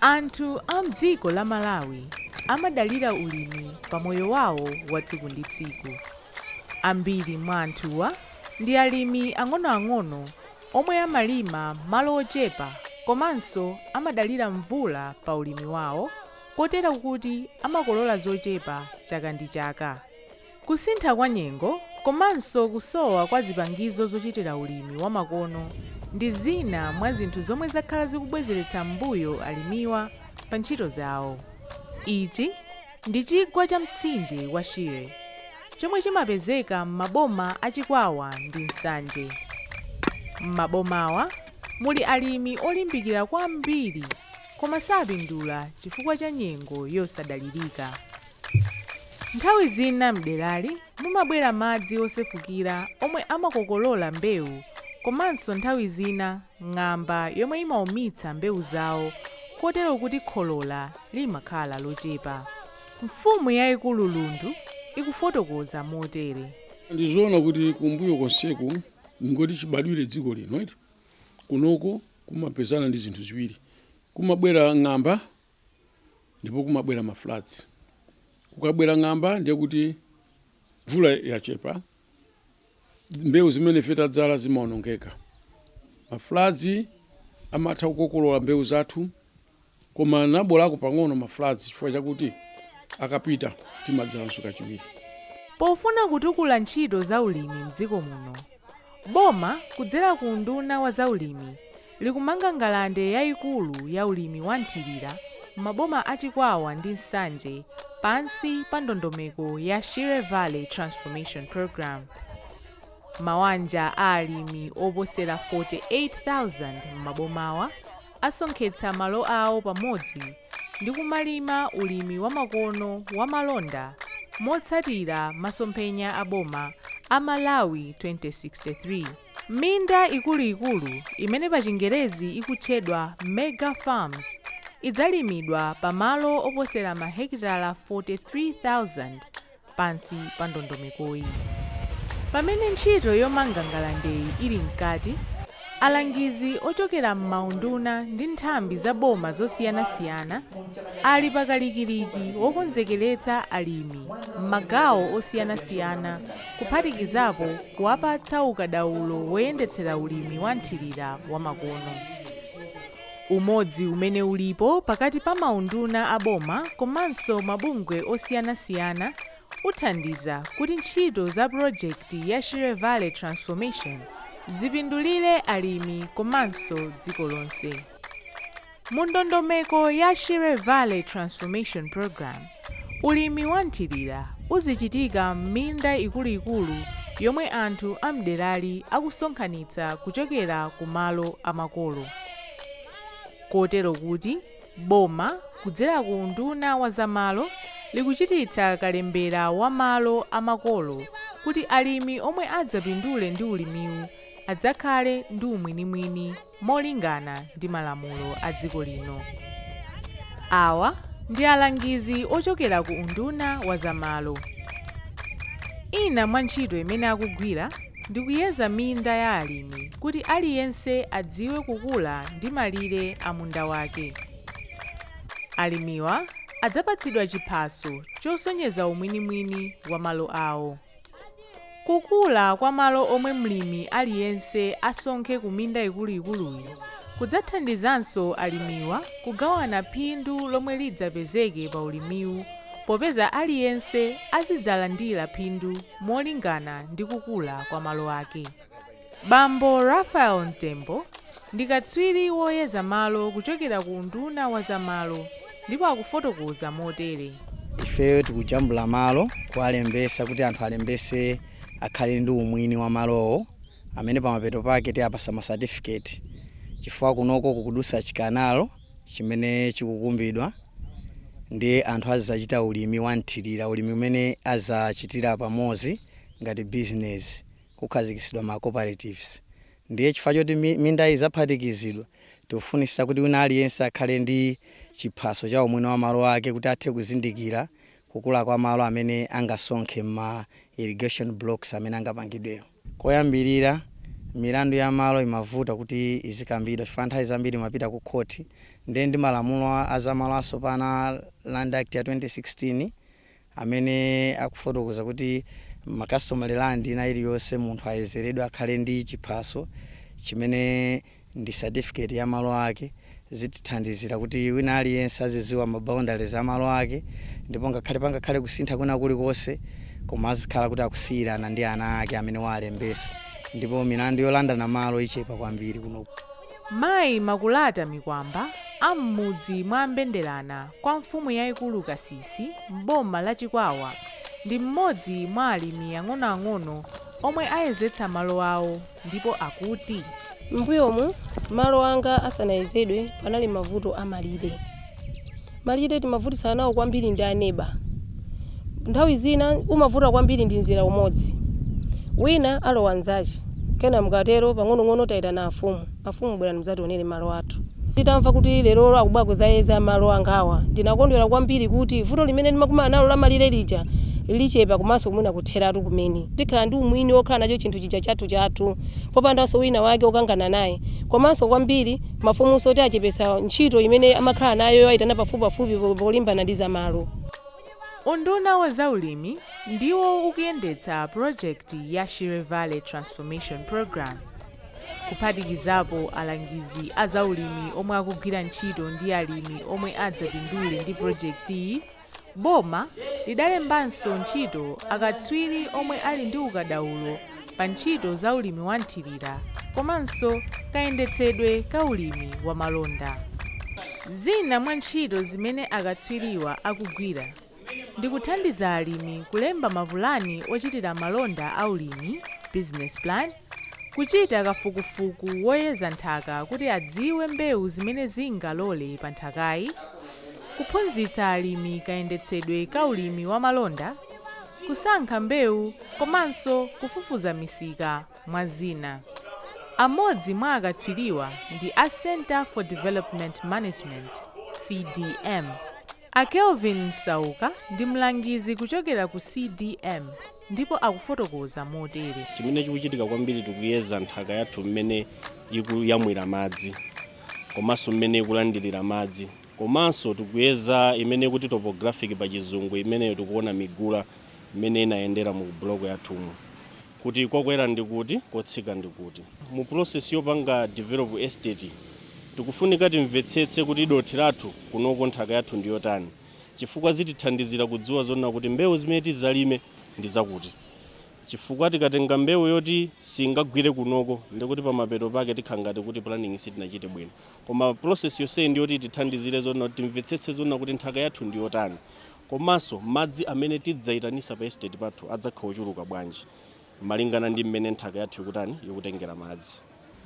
Anthu a m'dziko la Malawi amadalira ulimi pa moyo wawo wa tsiku ndi tsiku. Ambiri mwa anthuwa ndi alimi ang'onoang'ono omwe amalima malo ochepa komanso amadalira mvula pa ulimi wawo. kotero kuti amakolola zochepa chaka ndi chaka. Kusintha kwa nyengo komanso kusowa kwa zipangizo zochitira ulimi wa makono ndi zina mwa zinthu zomwe zakhala zikubwezeretsa m'mbuyo alimiwa pa ntchito zawo. Ichi ndi chigwa cha mtsinje wa Shire chomwe chimapezeka m'maboma a Chikwawa ndi Nsanje. M'mabomawa muli alimi olimbikira kwambiri. Koma sapindula chifukwa cha nyengo yosadalirika. Nthawi zina m'derali mumabwera madzi osefukira omwe amakokolola mbewu komanso nthawi zina ng'amba yomwe imaumitsa mbewu zawo kotero kuti kholola limakhala lochepa. Mfumu yaikulu Lundu ikufotokoza motere. Ndizoona kuti kumbuyo konseku ndingoti chibadwire dziko lino eti. Kunoko kumapezana ndi zinthu ziwiri. Kumabwera ng'amba ndipo kumabwera ma floods. Kukabwera ng'amba ndiye kuti mvula yachepa, mbewu zimene ife tadzala zimaonongeka. Ma floods amatha kukokolola mbewu zathu koma nabolako pang'ono ma floods chifukwa chakuti akapita timadzalanso kachiwiri. Pofuna kutukula ntchito za ulimi m'dziko muno, boma kudzera ku unduna wa zaulimi likumanga ngalande yaikulu ya ulimi wa nthirira m'maboma a Chikwawa ndi Nsanje pansi pa ndondomeko ya Shire Valley Transformation Programme. Mawanja a alimi oposera 48,000 m'mabomawa, asonkhetsa malo awo pamodzi ndi kumalima ulimi wamakono wa malonda motsatira masomphenya a boma a Malawi 2063. Minda ikuluikulu imene pachingerezi ikutchedwa Mega Farms idzalimidwa pa malo oposera mahekitala 43,000. pansi pa ndondomekoyi. Pamene ntchito yomanga ngalandeyi ili mkati, alangizi ochokera m'maunduna ndi nthambi za boma zosiyanasiyana ali pa kalikiliki wokonzekeretsa alimi m'magawo osiyanasiyana kuphatikizapo kuwapatsa ukadaulo woyendetsera ulimi wa nthirira wamakono. Umodzi umene ulipo pakati pa maunduna a boma komanso mabungwe osiyanasiyana uthandiza kuti ntchito za pulojekiti ya Shire Valley Transformation zipindulire alimi komanso dziko lonse. Mundondomeko ya Shire Valley Transformation Programme, Ulimi wa mthirira uzichitika m'minda ikuluikulu yomwe anthu a m'derali akusonkhanitsa kuchokera ku malo a makolo kotero kuti boma kudzera ku unduna wa za malo likuchititsa kalembera wa malo a makolo kuti alimi omwe adzapindule ndi ulimiwu adzakhale ndi umwinimwini molingana ndi malamulo a dziko lino. Awa ndi alangizi ochokera ku unduna wa za malo. Ina mwa ntchito imene akugwira ndi kuyeza minda ya alimi kuti aliyense adziwe kukula ndi malire a munda wake. Alimiwa adzapatsidwa chiphaso chosonyeza umwinimwini wa malo awo. Kukula kwa malo omwe mlimi aliyense asonkhe ku minda ikuluikuluyi kudzathandizanso alimiwa kugawana phindu lomwe lidzapezeke pa ulimiwu popeza aliyense azidzalandira phindu molingana ndi kukula kwa malo ake. Bambo Raphael Mtembo ndi katswiri woyeza malo kuchokera ku unduna wa za malo ndipo akufotokoza motere. Ifeyo tikujambula malo kuwalembesa kuti anthu alembese akhale ndi umwini wa malowo amene pamapeto pake tiapasa ma certificate chifukwa kunoko kukudusa chikanalo chimene chikukumbidwa ndiye anthu azachita ulimi wa mthilira ulimi umene azachitira pamozi ngati business. kukhazikisidwa ma cooperatives ndiye chifukwa choti mindayi izaphatikizidwa tikufunisisa kuti wina aliyense akhale ndi chiphaso cha umwini wa malo ake kuti athe kuzindikira kukula kwa malo amene angasonkhe mma irrigation blocks amene angapangidwewo. Koyambirira, milandu ya malo imavuta kuti izikambidwa chifukwa nthawi zambiri imapita ku khoti ndiye ndi malamulo a za malo asopano a Land Act ya 2016, amene akufotokoza kuti ma customary land ina iliyonse munthu ayezeredwe akhale ndi chiphaso chimene ndi certificate ya malo ake zitithandizira kuti wina aliyense aziziwa ma boundaries a malo ake ndipo ngakhale pangakhale kusintha kwina kulikonse koma azikhala kuti akusiyirana ndi ana ake amene waalembesa ndipo milandu yolandana malo ichepa kwambiri kunoko Mayi Makulata Mikwamba a m'mudzi mwa Mbendelana kwa mfumu yaikulu Kasisi m'boma la Chikwawa ndi m'modzi mwa alimi ang'onoang'ono omwe ayezetsa malo awo ndipo akuti. M'mbuyomu malo anga asanayezedwe panali mavuto a malire. Malire timavutitsana nawo kwambiri ndi a neba. Nthawi zina umavuta kwambiri ndi mzera umodzi. Wina alowa mzache. Kena mukatero pang'onong'ono taitana afumu. Afumu bwerani mzationere malo athu. Nditamva kuti lerolo akubwera kuzayeza malo angawa ndinakondwera kwambiri kuti vuto limene ndimakumana nalo la malire lija lichepa komanso mwina kutheratu kumene. Tikhala ndi umwini wokhala nacho chinthu chija chathu chathu popandanso wina wake okangana naye. Komanso kwambiri. Mafumunso ati achepetsa ntchito imene amakhala nayo yowayitana pafupipafupi polimbana ndi za malo. Unduna wa za ulimi ndiwo ukuyendetsa pulojekiti ya Shire Valley Transformation Programme, kuphatikizapo alangizi a za ulimi omwe akugwira ntchito ndi alimi omwe adzapindule ndi pulojekitiyi, Boma lidalembanso ntchito akatswiri omwe ali ndi ukadaulo pa ntchito za ulimi wa mthirira komanso kayendetsedwe ka ulimi wa malonda. Zina mwa ntchito zimene akatswiriwa akugwira ndi kuthandiza alimi kulemba mapulani ochitira malonda a ulimi, business plan, Kuchita kafukufuku woyeza nthaka kuti adziwe mbewu zimene zingalole pa nthakayi, kuphunzitsa alimi kayendetsedwe ka ulimi wa malonda, kusankha mbewu komanso kufufuza misika mwa zina. Amodzi mwa akatswiriwa ndi a Centre for Development Management, CDM. A Kelvin Msauka ndi mlangizi kuchokera ku CDM. ndipo akufotokoza motere. Chimene chikuchitika kwambiri tikuyeza nthaka yathu mmene ikuyamwira madzi komanso mmene ikulandirira madzi komanso tikuyeza imene ikuti topographic pa chizungu imeneyo tikuona migula mmene inayendera mu buloko yathumu kuti kokwera ndi kuti kotsika ndi kuti mu process yopanga develop estate tikufunika timvetsetse kuti dothi lathu kunoko nthaka yathu ndi yotani chifukwa zitithandizira kudziwa zonena kuti mbewu zimene tizalime ndi zakuti chifukwa tikatenga mbewu yoti singagwire kunoko ndikuti pamapeto pake tikhala ngati kuti planning sitinachite bwino koma process yonseyi ndi yoti tithandizire zonena kuti timvetsetse zonena kuti nthaka yathu ndi yotani komanso madzi amene tidzaitanisa pa estate pathu adzakhala ochuluka bwanji malingana ndi mmene nthaka yathu ikutani ikutengera madzi.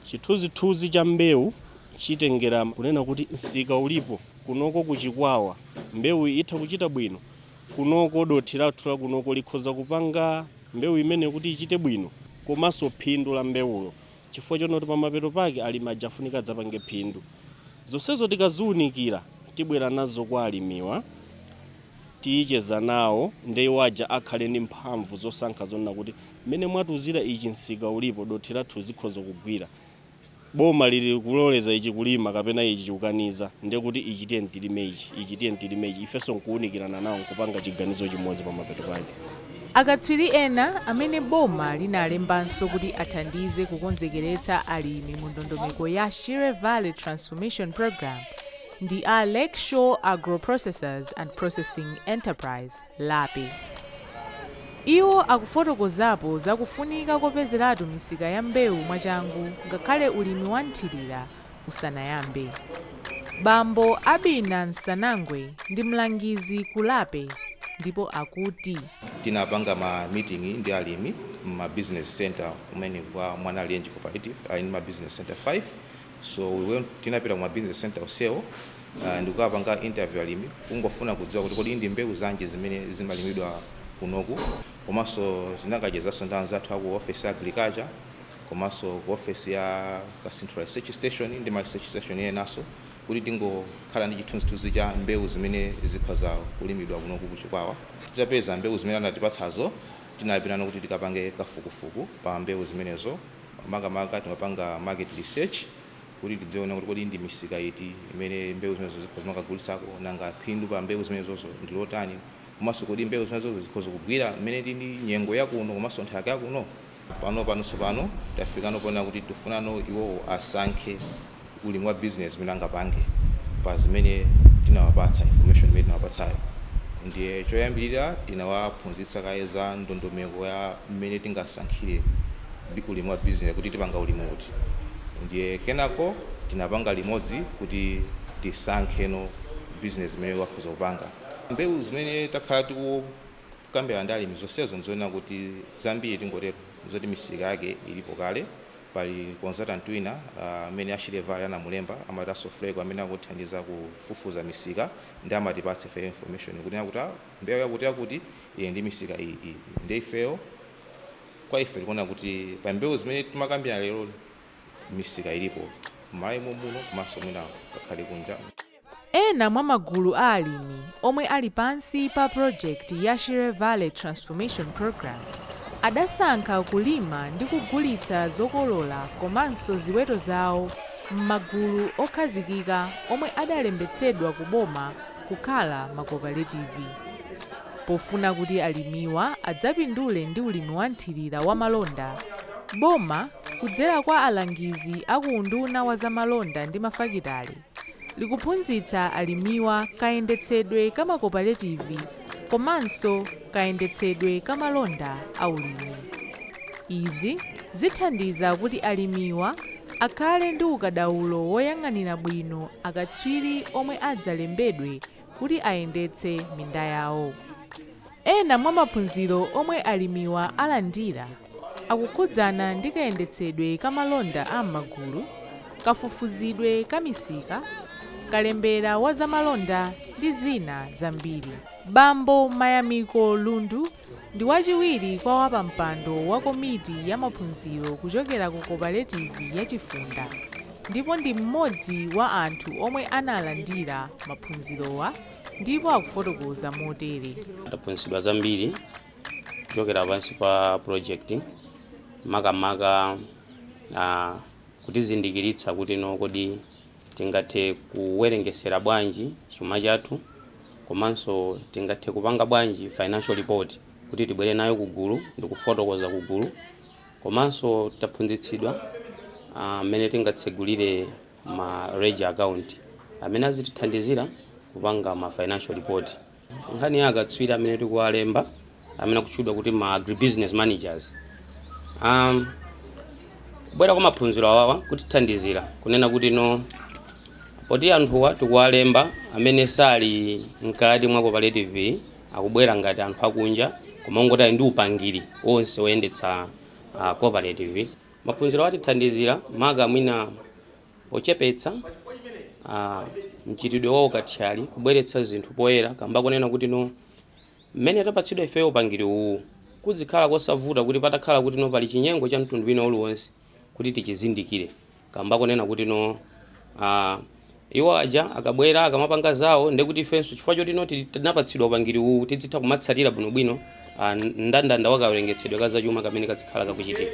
Chithunzithunzi cha mbewu chitengera kunena kuti msika ulipo, kunoko ku Chikwawa mbewu itha kuchita bwino, kunoko dothi lathu la kunoko likhoza kupanga mbewu imeneyo kuti ichite bwino komanso phindu la mbewulo chifukwa chonena kuti pamapeto pake alimi aja afunika adzapange phindu. Zonsezo tikaziunikira tibwera nazo kwa alimiwa, ticheza nawo nde iwo aja akhale ndi mphamvu zosankha zonena kuti Mmene mwatiuzira ichi msika ulipo dothi lathu zikhoza kugwira. Boma liri kuloleza ichi kulima kapena ichi chikukaniza ndiye kuti ichi tiyeni tilime ichi, ichi tiyeni tilime ichi ifenso nkuunikirana nawo nkupanga chiganizo chimodzi pamapeto pake. Akatswiri ena amene boma linalembanso kuti athandize kukonzekeretsa alimi mu ndondomeko ya Shire Valley Transformation Programme ndi a Lakeshore Agro-Processors and Processing Enterprise, lape. Iwo akufotokozapo za kufunika kopezeratu misika ya mbewu mwachangu ngakhale ulimi wa mthirira usanayambe. Bambo Abina Nsanangwe ndi mlangizi ku lape ndipo akuti. Tinapanga ma meeting ndi alimi m'ma business centre kumene kwa Mwanalenji Cooperative ali ndi ma business centre 5. So tinapita ku ma business center onsewo uh, ndikukapanga interview alimi kungofuna kudziwa kuti kodi ndi mbewu zanji zimene zimalimidwa kunoku komanso tinakachezanso ndi anzathu aku office ya agriculture komanso ku office ya Kasinthula research station ndi ma research station enanso kuti tingokhala ndi chithunzithunzi cha mbewu zimene zikhoza kulimidwa kunoku ku Chikwawa titapeza mbewu zimene anatipatsazo tinapitano kuti tikapange kafukufuku pa mbewu zimenezo Makamaka timapanga market research kuti tiziona kuti kodi ndi misika iti imene mbewu zimenezo zimakagulitsako, nanga phindu pa mbewu zimenezozo ndi lotani, komanso kodi mbewu zimenezozo zikhoza kugwira mmene ilili nyengo ya kuno komanso nthaka ya kuno. Panopano tsopano tafikano ponena kuti tifunano iwowo asankhe. ulimi wa business imene angapange pa zimene tinawapatsa information imene tinawapatsayo ndiye choyambirira tinawaphunzitsa kaye za ndondomeko ya mmene tingasankhire bi- ulimi wa business kuti tipanga ulimi uti ndiye kenako tinapanga limodzi kuti tisankheno business imene akhoza kupanga mbewu zimene takhala tikukambirana ndi alimi zonsezo nzonena kuti zambiri tingotero zoti misika yake ilipo kale Pali consultant wina amene a Shire Valley anamulemba amati a Sofreco amene akutithandiza kufufuza misika ndiye amatipatsa ifeyo information kunena kuti a mbewu yakuti yakuti ili ndi misika iyi iyi ndiye ifeyo kwa ife tikuona kuti pa mbewu zimene timakambirana lero misika ilipo m'Malawi momuno komanso mwina ngakhale kunja. Ena mwa magulu a alimi omwe ali pansi pa pulojekiti ya Shire Valley Transformation Programme adasankha kulima ndi kugulitsa zokolola komanso ziweto zawo m'magulu okhazikika omwe adalembetsedwa ku boma kukhala makopaletivi. Pofuna kuti alimiwa adzapindule ndi ulimi wa nthirira wa malonda, boma, kudzera kwa alangizi a ku Unduna wa Zamalonda ndi Mafakitale, likuphunzitsa alimiwa kayendetsedwe ka makopaletivi komanso kayendetsedwe ka malonda a ulimi. Izi zithandiza kuti alimiwa akhale ndi ukadaulo woyang'anira bwino akatswiri omwe adzalembedwe kuti ayendetse minda yawo. Ena mwa maphunziro omwe alimiwa alandira. akukhudzana ndi kayendetsedwe ka malonda a m'magulu, kafufuzidwe ka misika, kalembera wa zamalonda ndi zina zambiri. Bambo Mayamiko Lundu ndi wachiwiri kwa wapampando wa komiti ya maphunziro kuchokera ku koparetivi ya Chifunda ndipo ndi m'modzi wa anthu omwe analandira maphunzirowa ndipo akufotokoza motere. Taphunzitsidwa zambiri kuchokera pansi pa project makamaka uh, kutizindikiritsa kuti no kodi tingathe kuwerengesera bwanji chuma chathu komanso tingathe kupanga bwanji financial report kuti tibwere nayo kugulu ndi kufotokoza kugulu komanso taphunzitsidwa mmene uh, tingatsegulire ma ledger account amene azitithandizira kupanga ma financial report Nkhani ya akatswiri amene tikuwalemba amene akutchedwa kuti ma agribusiness managers um, kubwera kwa maphunziro awawa kutithandizira kunena kuti no poti anthuwa tikuwalemba amene sali mkati mwa cooperative akubwera ngati anthu akunja koma ongoti ali ndi upangiri onse oyendetsa uh, cooperative maphunzirowa atithandizira maka mwina Pochepetsa a mchitidwe wa ukathyali kubweretsa zinthu poyera kamba konena kuti no mmene tapatsidwa ifeyo upangiri uwuwu kudzikhala kosavuta kuti patakhala kuti no pali chinyengo cha mtundu wina uliwonse kuti tichizindikire kamba konena kuti no a iwo aja akabwera akamapanga zawo ndekuti ifenso chifukwa choti no tinapatsidwa upangiri uwuwu tidzitha kumatsatira bwinobwino a mndandanda wa kawerengetsedwe ka zachuma kamene kadzikhala kakuchitika.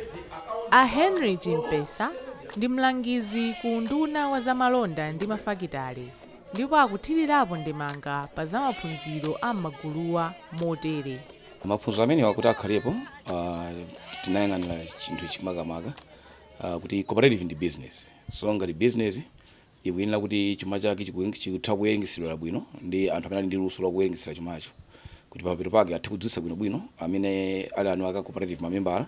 A Henry Chimpesa ndi mlangizi ku unduna wa za malonda ndi mafakitale ndipo akuthirirapo ndemanga pa za maphunziro a m'maguluwa motere. Maphunziro amenewa kuti akhalepo, ah, tinayang'anira chinthu ichi makamaka, ah, kuti cooperative ndi business. So ngati business, ikuyenera kuti chuma chake chikutha kuwerengetseredwa bwino ndi anthu amene ali ndi luso la kuwerengetsera chumacho kuti pamapeto pake athe kudziwitsa bwino bwino amene ali eni ake a cooperative mamembala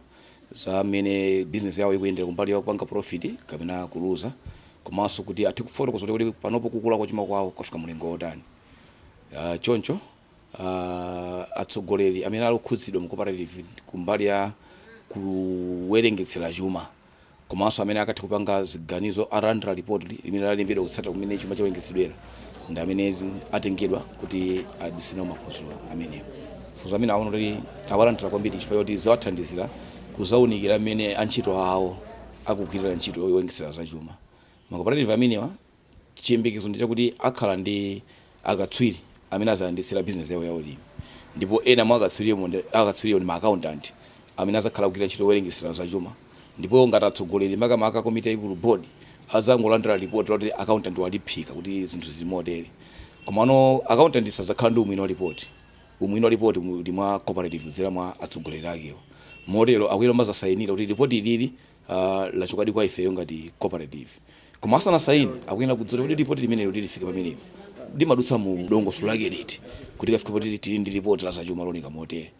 za mmene bizinesi yawo ikuyendera kumbali ya kupanga profit kapena kuluza komanso kuti athe kufotokoza kuti kuti panopo kukula kwa chuma kwawo kwafika mulingo wotani Ah, choncho ah, atsogoleri amene ali okhudzidwa mu cooperative kumbali ya kuwerengetsera chuma komanso amene akathe kupanga ziganizo alandira lipoti limene lalembedwa kutsata mmene chuma chawerengetseredwa ndi amene atengedwa kuti aduse nawo maphunziro amenewa maphunziro amene aona kuti awalandira kwambiri chifukwa choti zawathandizira kudzaunikira mmene antchito awo akugwirira ntchito yowerengesera zachuma makoperative amenewa Chiyembekezo ndi chakuti akhala ndi akatswiri amene adzayendetsera bizinesi yawo ya ulimi ndipo ena mwa akatswiriwo ndi ma akauntanti amene adzakhala akugwira ntchito yowerengetsera zachuma ndipo ngati atsogoleri makamaka komiti yaikulu, board, adzangolandira lipoti loti akauntanti waliphika kuti zinthu zili motere. Komano akauntanti sadzakhala ndi umwini wa lipoti. Umwini wa lipoti uli mwa cooperative kudzera mwa atsogoleri akewo. Motero akuyenera kumadzasayinira kuti lipoti ilili Aaa lachokadi kwa ifeyo ngati cooperative koma asanasaine akuyenera kudziwa kuti kodi lipoti limeneli kuti lifike pamenepo limadutsa mu dongosolo lake liti kuti likafike poti tili ndi lipoti la zachuma looneka motere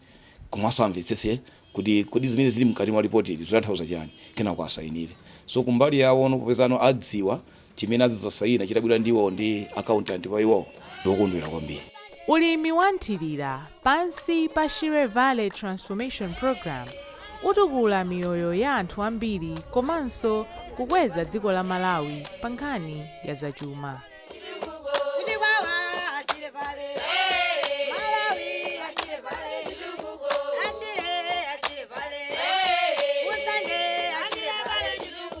komanso amvetsetse kuti kodi zimene zili mkati mwa lipotili zikutanthauza chani kenako asainire. So kumbali yawo no popezano adziwa chimene azidzasayina chitabwera ndi iwowo ndi akauntanti kwa iwowo ndi okondwera kwambiri. Ulimi wa mthirira pansi pa Shire Valley Transformation Programme utukula miyoyo ya anthu ambiri komanso kukweza dziko la Malawi pa nkhani ya zachuma.